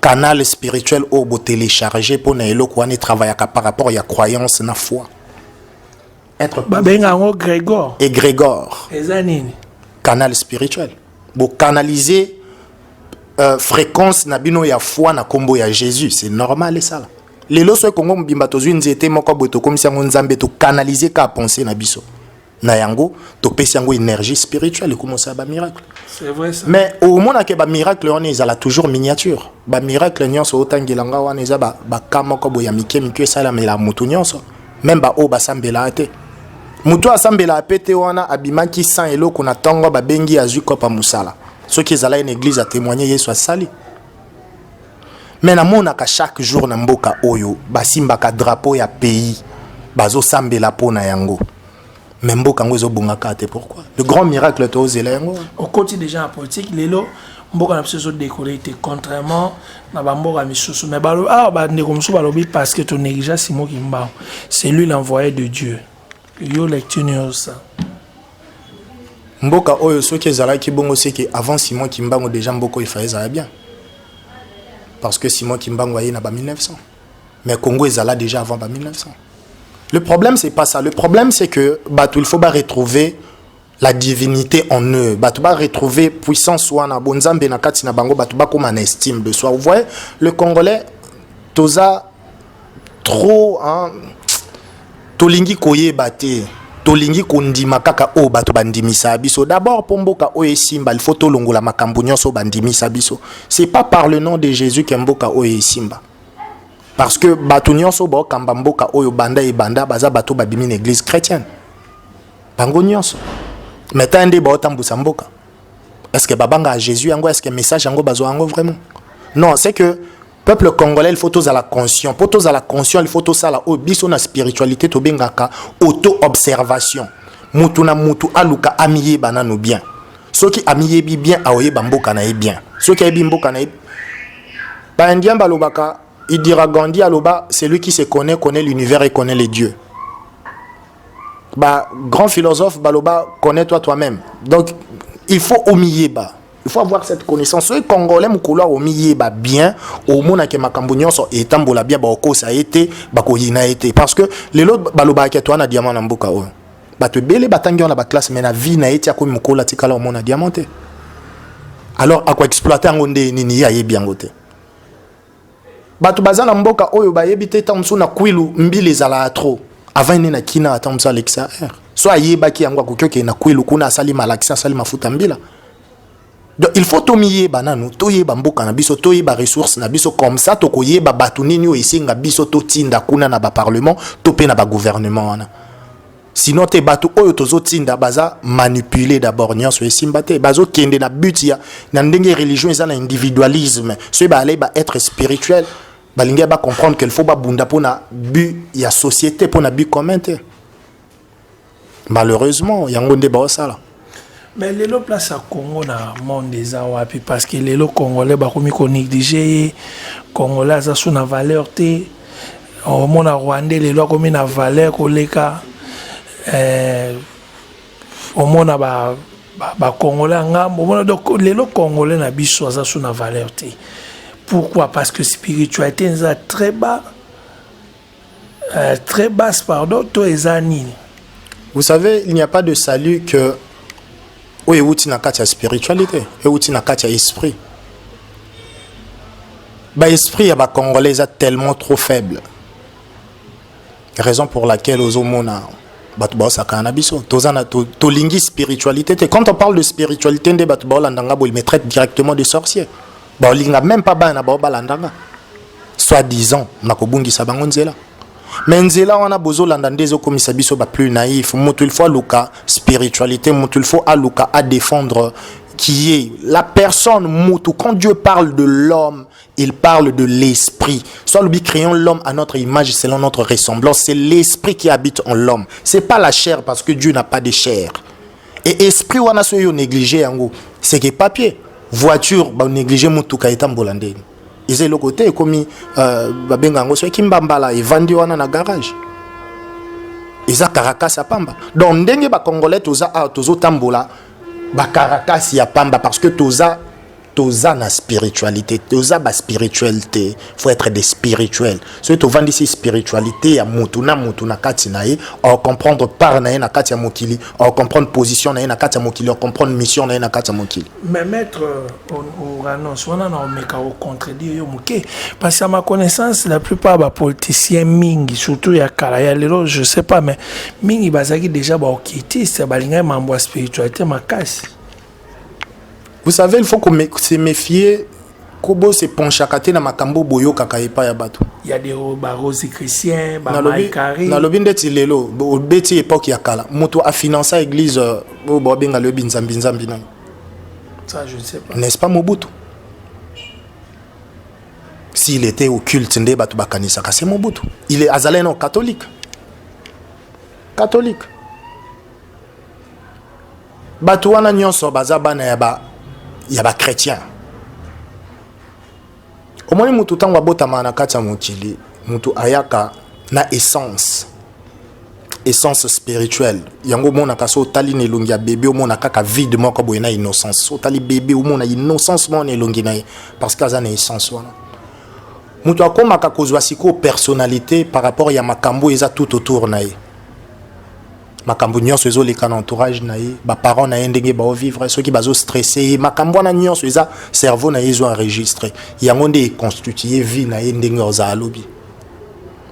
canal spirituel oyo botelecharge mpo na eloko wana etravaillaka par rapport ya croyance na foi être babenga yango grégor et grégor eza nini canal spirituel bocanalise euh, fréquence na bino ya foi na nkombo ya jésus c'est normal esala lelo soki kongo mobimba tozwi nzete moko boye tokomisi yango nzambe tokanalize ka pensée na biso na yango topesi yango énergie spirituelle ekomosala bamiracle mais omonake bamiracle wana ezala toujours miniature bamiracle nyonso otangela nga wana eza baka moko boye ya mike mike esalamela motu nyonso meme baoyo basambelaa te motu oyo asambelaa mpe te wana abimaki san eloko na ntongo babengi azwi kopa mosala soki ezala ye na eglize atemoigne yesu asali mais namonaka chaque jour na mboka oyo basimbaka drapeau ya pays bazosambela mpo na yango mais mboka yango ezobonga kaka te pourquoi le grand miracle tozela yango okoti déjà na politique lelo mboka na biso ezodekole te contrairement na bamboka misusu mais awa ah, bandeko mosusu balobi parce que tonégligea simo kimbangu c'est lui l'envoyé de dieu yo lecture niosa mboka oyo soki ezalaki bongo seke avant simon kimbangu déjà mboka oyo efaye ezala bien parce que simon kimbangu aye na ba 1900 mais congo ezala déjà avant ba 1900 le problème c'est pas ça le problème c'est que bato il faut ba retrouver la divinité en eux bato ba retrouver puissance wana bonzambe na kati na bango bato bakoma na estime de soi vous voyez le congolais toza trop hein, tolingi koyeba te tolingi kondima kaka oyo bato bandimisa biso d'abord mpo mboka oyo esimba ilfaut tolongola makambo nyonso oyo bandimisa biso c'est pas par le nom de jésus ke mboka oyo esimba parce que bato nyonso baokamba mboka oyo banda ebanda baza bato babimi na église chrétienne bango nyonso maintenant nde baotambwisa mboka est ce que babanga ya jésus yango est ce que message yango bazwa yango vraiment non c'est que peuple congolais il faut tozala conscient mpo tozala conscient il faut tosala oyo biso na spiritualité tobengaka auto observation mutu na mutu aluka amiyeba nano bien soki amiyebi bien aoyeba mboka na ye bien soki ayebi mboka na ye baindien balobaka idira gandi aloba celui qui se connaît connaît l'univers et connaît les dieux Bah, grand philosophe, Baloba, connais-toi toi-même. Donc, il faut omiyeba. Il faut avoir cette connaissance. Soki congolais mukolo omiyeba bien, omona ke makambo nyonso etambola bien ba okosa ete, ba koyina ete parce que lelo baloba ke toi na diamant na mboka oyo. Bato ebele batangi wana ba classe mais na vie na ete akomi mukolo atikala omona diamant te. Alors ako exploiter yango nde nini ye ayebi yango te. bato baza na mboka oyo bayebi te ntango mosusu na kwilu mbila ezalaka trop avant ene na kina ata mosusu alekisa heure so ayebaki yango akoki okende na kwilu kuna asali malakisi asali mafuta mbila donc il faut tomiyeba nanu toyeba mboka na biso toyeba ressource na biso comme ça tokoyeba bato nini oyo esenga biso totinda kuna na baparlement to mpe na bagouvernement wana sinon te bato oyo tozotinda baza manipule d'abord nyonso esimba te bazokende na but ya na ndenge religion eza na individualisme soki baalei ba être spirituel balingi ya bacomprendre qu'il faut babunda mpo na but ya société mpo na but commun te malheureusement yango nde baosala Mais lelo place ya Congo na monde eza wapi parce que lelo congolais bakomi ko négliger ye congolais aza sous na valeur te omona rwandais lelo akomi na valeur koleka eh, omona ba bakongolais ya ngambo omona donc lelo congolais na biso aza sous na valeur te pourquoi parce que spiritualité eza très bas Euh, très basse, pardon, toi et Zanini. Vous savez, il n'y a pas de salut que. Oui, outil na katia spiritualité, et outil na katia esprit. Bah, esprit ya ba congolais est tellement trop faible. Raison pour laquelle aux homona bato baosaka na biso toza na tolingi spiritualité te quand on parle de spiritualité nde bato baolandanga boye mais traite directement de sorcier baolinga meme pas bana na bango balanda nga soit disant na kobungisa bango nzela me nzela wana bozolanda nde ezokomisa biso baplus naïf moto il faut aluka spiritualité moto il faut aluka adéfendre qui est la personne moto quand dieu parle de l'homme il parle de l'esprit soit lui créons l'homme à notre image selon notre ressemblance c'est l'esprit qui habite en l'homme c'est pas la chair parce que dieu n'a pas de chair et esprit wana soki yo néglige yango c'est que papier voiture ba néglige motuka etambola ndeni eza eloko te ekomi euh, babenga yango soki mbambala evandi wana na garage eza caracas ya pamba donc ndenge bacongolais toza awa tozotambola bacarakas ya pamba parce que toza toza na spiritualité toza ba spirituel te faut être des spirituels soki tovandisi spiritualité ya mutu na mutu na kati na ye ocomprendre part na ye na kati ya mokili ocomprendre position na ye na kati ya mokili ocomprendre mission na ye na kati ya mokili mais maître oranonce euh, wana na omeka ocontredire yo moke parce ya ma connaissance la plupart bapoliticien mingi surtout ya kala ya lelo je sais pas mais mingi bazalaki déjà baokitiste balingaki mambo ya spiritualité makasi Vous savez il faut ko se mefier ko bo se penchaka te na makambo boyokaka epai ya bato ya de ba Rosie Christian ba Marie Carrie nalobi ndeti lelo obeti epoque ya kala moto a finança église euh, oyo bo benga le binzambi nzambi nani ça je ne sais pas n'est-ce pas Mobutu s'il était au culte nde bato bakanisaka c'est Mobutu il est azalaki non catholique catholique bato wana nyonso baza bana ya ba ya ba chrétien omoni motu ntango abotama na kati ya mokili motu ayaka na essence essence spirituelle yango omonaka so otali na elongi ya bebe omona kaka vide moko boye na innocence so otali bebe omona innocence moko na elongi na ye parce que aza na essence wana moto akomaka kozwa sikoyo personnalité par rapport ya makambo eza tout autour na ye makambo nyonso ezoleka na entourage na ye baparent na ye ndenge baovivre soki bazostresse ye makambo wana nyonso eza cerveau na ye ezo enregistre yango nde econstitue vie na ye ndenge ozala lobi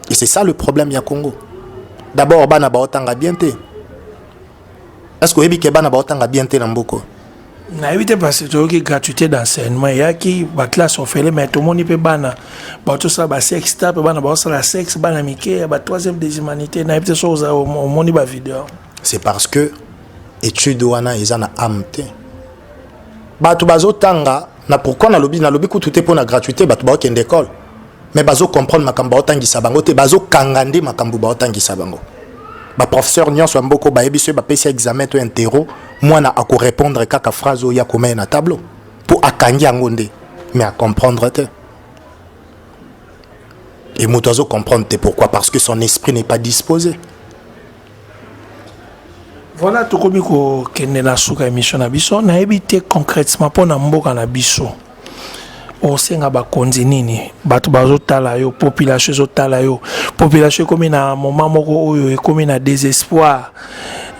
et c'est ça le problème ya congo d'abord bana baotanga bien te est ce que oyebi ke bana baotanga bien te na mboko nayebi te parce toyoki gratuité d'enseignement eyaki baclasse ofele mais tomoni mpe bana batosala basexe ta mpe bana baosala sexe bana mike ya ba troisième des humanités nayebi te soki oza omoni bavideo c'est parce que étude wana eza na ame te bato bazotanga na pourquoi nalobi nalobi kutu te mpo na gratuité bato baokende école mais bazo comprendre makambo baotangisa bango te bazokanga nde makambo baotangisa bango baprofesseur nyonso ya mboko bayebi soki bapesi examen to interro mwana akorépondre kaka phrase oyo ya komeye na tableau mpo akangi yango nde mais acomprendre te e moto azocomprendre te pourquoi parce que son esprit n'est pas disposé Voilà tokomi kokende na suka émission na biso nayebi te concrètement mpo na mboka na biso osenga bakonzi nini bato bazotala yo population ezotala yo population ekomi na moment moko oyo ekomi na désespoir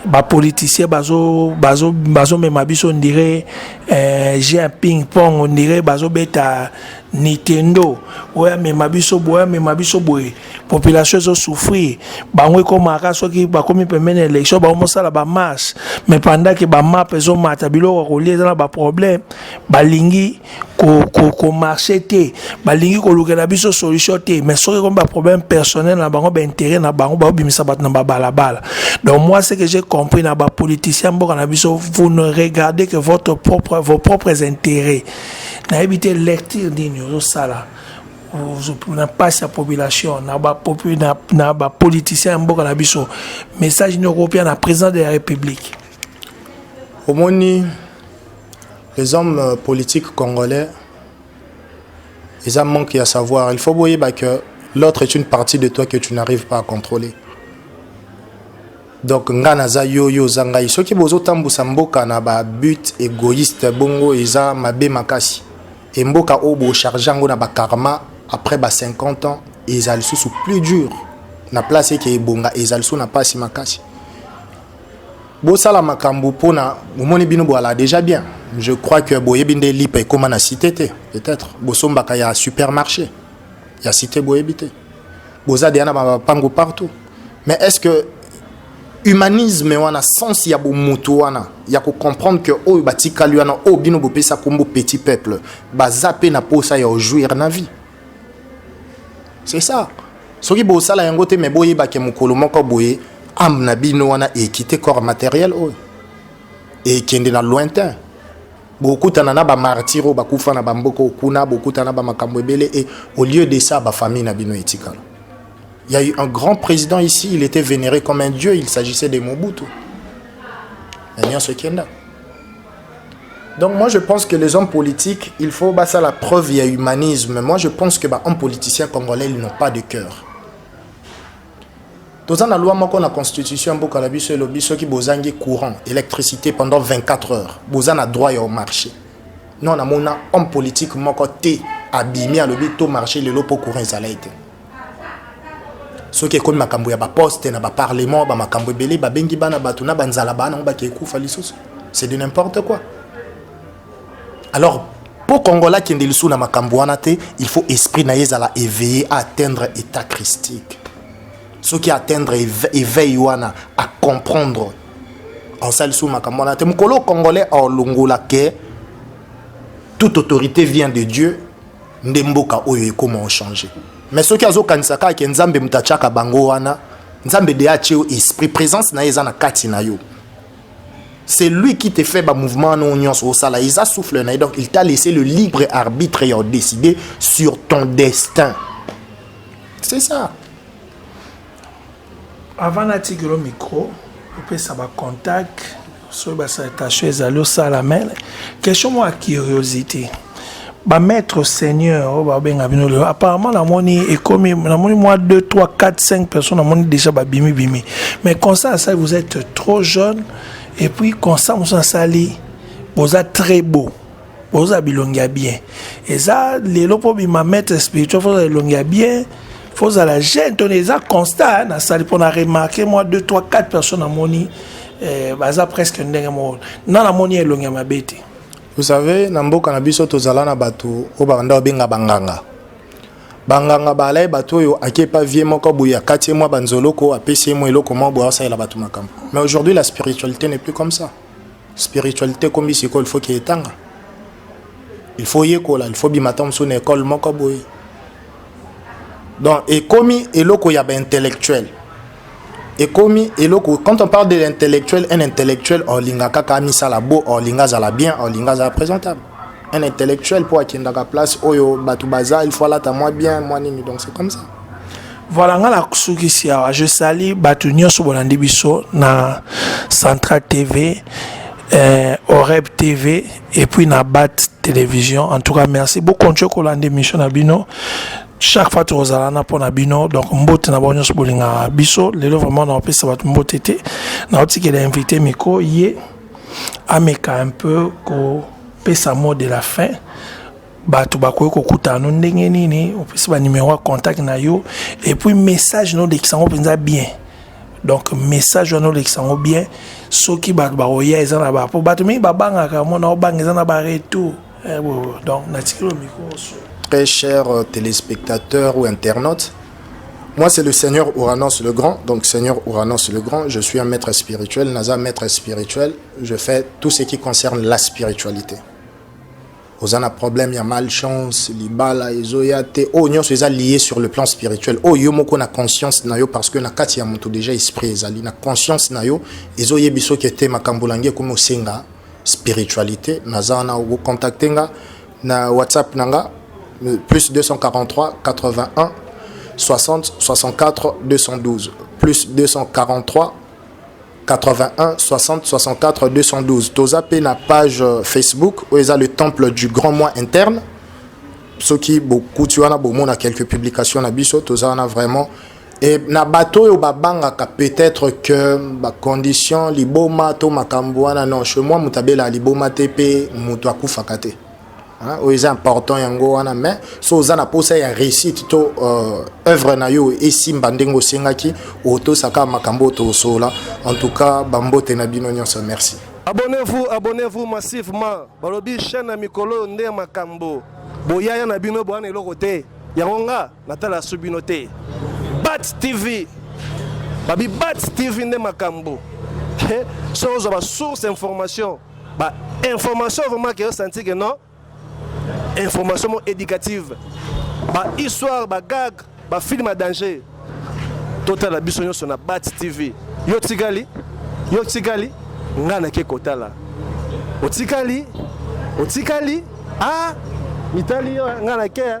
bapoliticien bazomema bazo, bazo biso ondire eh, jeu ping pong ondire bazobeta nintendo oyo amema biso boye amema biso boye population ezo souffrir bango ekomaka soki bakomi pembeni ya élection bango mosala bamarche mais pendant ke bamap ezomata biloko ya kolia eza na baproblème balingi komarche ko, ko te balingi kolukela biso solution te mais soki ekomi baproblème personnel na bango baintérêt na bango baobimisa bato na babalabala donc moi ce que j'ai compris na bapoliticien mboka na biso vous ne regardez que votre propre, vos propres intérêts nayebi te lecture nini ozosala na mpasi ya population na bapoliticien na, na, na ya mboka na biso message nini okopia na président de la république omoni les hommes euh, politiques congolais ils ont manque à savoir il faut boyeba que l'autre est une partie de toi que tu n'arrives pas à contrôler donc nga naza yo yo oza ngai soki bozotambusa mboka na babute égoïste bongo eza mabe makasi Et mboka oyo bo charge yango na ba karma après ba 50 ans ezali sous plus dur na place eke ebonga ezali sous na pasi makasi. bosala makambo mpona omoni bino bwala déjà bien je crois que boyebi nde lipa ekóma na cité te peut-être bosombaka ya supermarché ya cité boyebi te boza deya na bapango partout mais est ce que humanisme wana sens ya bomutu wana ya ko comprendre que oyo batikali wana oyo bino bopesa kombo petit peuple baza pe na posa ya ojouir na vie c'est ça soki bosala yango te me boyebake mokolo moko boye ame na bino wana ekite corps matériel oyo ekende na lointain bokutana na bamartire oyo bakufa na bamboka okuna bokutana na bamakambo ebele e au lieu de ça bafamille na bino etikala Il y a eu un grand président ici, il était vénéré comme un dieu, il s'agissait de Mobutu. Donc moi je pense que les hommes politiques, il faut bah, ça la preuve, il y a humanisme. Moi je pense que bah, un politicien congolais, ils n'ont pas de cœur. Dans la loi moko la constitution mboka na biso elobi soki bozangi courant électricité pendant 24 heures boza na droit au marché non un homme politique moko te abimi alobi to marché le lopo courant ezala ete soki ekomi makambo ya baposte na baparlement bamakambo ebele babengi bana bato na banzala bana yango bakei kufa lisusu c'est de n'importe quoi alors mpo kongola akende lisusu na makambo wana te il faut esprit na ye ezala éveillé à atteindre état christique soki atteindre éveil wana à comprendre asali lisusu makambo wana te mokolo congolais aolongola ke toute autorité vient de dieu nde mboka oyo ekoma o changer mais soki azokanisa kaka ke nzambe moto atiaka bango wana nzambe de atie yo esprit présence na ye eza na kati na yo c'est lui qui te fait ba mouvement wana oyo nyonso osala eza souffle na ye donc il t'a laissé le libre arbitre ya odécide sur ton destin c'est ça Avant natikelo micro opesa ba contact soki ba salutation ezali osala mais question mwa curiosité ba maître seigneur oyo babenga bino lelo apparemment namoni ekomi namoni mwa 2 3 4 5 personnes namoni déjà babimi bimi mais constat asali vous êtes trop jeune et puis constat mosusu asali boza très beau Boza bilongi ya bien. Eza lelo po bima maître spirituel faut elongi ya bien. Faut la jeune ton eza constat na sali pour na remarquer moi 2 3 4 personnes à moni eh, baza presque ndenge moko. Na na moni elongi ya mabe te. Vous savez na mboka na biso tozala na bato oyo babanda babenga banganga banganga balai bato oyo akepa vie moko boye akati ye mwa banzoloko apesi ye mwa eloko moko boye asalela bato makambo mais aujourd'hui la spiritualité n'est plus comme ça spiritualité ekomi sikoyo il faut ke etanga il faut yekola il faut bima ntango mosusu na ekole moko boye donc ekomi eloko ya baintellectuel ekomi eloko quand on parle de l'intellectuel un intellectuel olinga kaka amisala bo olinga azala bien olinga azala présentable un intellectuel mpo akendaka place oyo bato baza il faut alata mwa bien mwa nini donc c'est comme ça Voilà nga na sukisi awa je sali bato nyonso bolandi biso na Central TV euh, Oreb TV et puis na Bat Télévision en tout cas merci beaucoup ntie kolanda émission na bino chaque fois tokozala na mpo na bino donc mbote na bango nyonso bolingaka biso lelo vraiment naopesa bato mbote te naotikela invité miko ye ameka un peu kopesa mot de la fin bato bakoki kokutana no ndenge nini opesi banimero ya contact na yo epuis message nolekisa yango mpenza bien donc message wana olekisa yango bien soki bato bakoya eza na ba mpo bato mingi babangaka mona obanga eza na baretour eh, donc natikeli yo mikro très cher euh, téléspectateur ou internaute Moi, c'est le Seigneur Uranus le Grand. Donc, Seigneur Uranus le Grand, je suis un maître spirituel. Naza, maître spirituel. Je fais tout ce qui concerne la spiritualité. oza na problème ya malchance libala ezoya te oyo nyonso eza lié sur le plan spirituel oyo yo moko na conscience na yo parce que na kati ya moto déjà esprit ezali na conscience na yo ezoyebi soki ete makambo olangi ekomi osenga spiritualité naza wana okocontacte nga na whatsapp na nga plus 243 81 60 64 212 plus 243 81 60 64 212 toza pe na page euh, Facebook oyo eza le temple du grand moi interne soki bokuti wana bomona quelques publications na biso toza wana vraiment e na bato oyo babangaka peut-être que bacondition liboma to makambo wana non chez moi moto abelaka liboma te mpe moto akufaka te Hein, oyo eza important yango wana mais so oza na posa ya réussite to euh, œuvre na yo esimba ndenge osengaki otosaka makambo tosola en tout cas bambote na bino nyonso merci abonnez-vous abonnez-vous massivement balobi chaîne ya mikolo oyo nde makambo boyaya na bino bowana eloko te yango nga Natala su bino te. Bat TV. Babi Bat TV nde makambo. He, so ozo ba source information. Ba information vraiment que senti que non. Information éducative. Ba histoire, ba gag, ba film à danger. Totala biso nyonso na Bat TV. Yo tikali? Yo tikali? Nga na ke kotala. Otikali? Otikali? Ah, mitali yo nga na ke.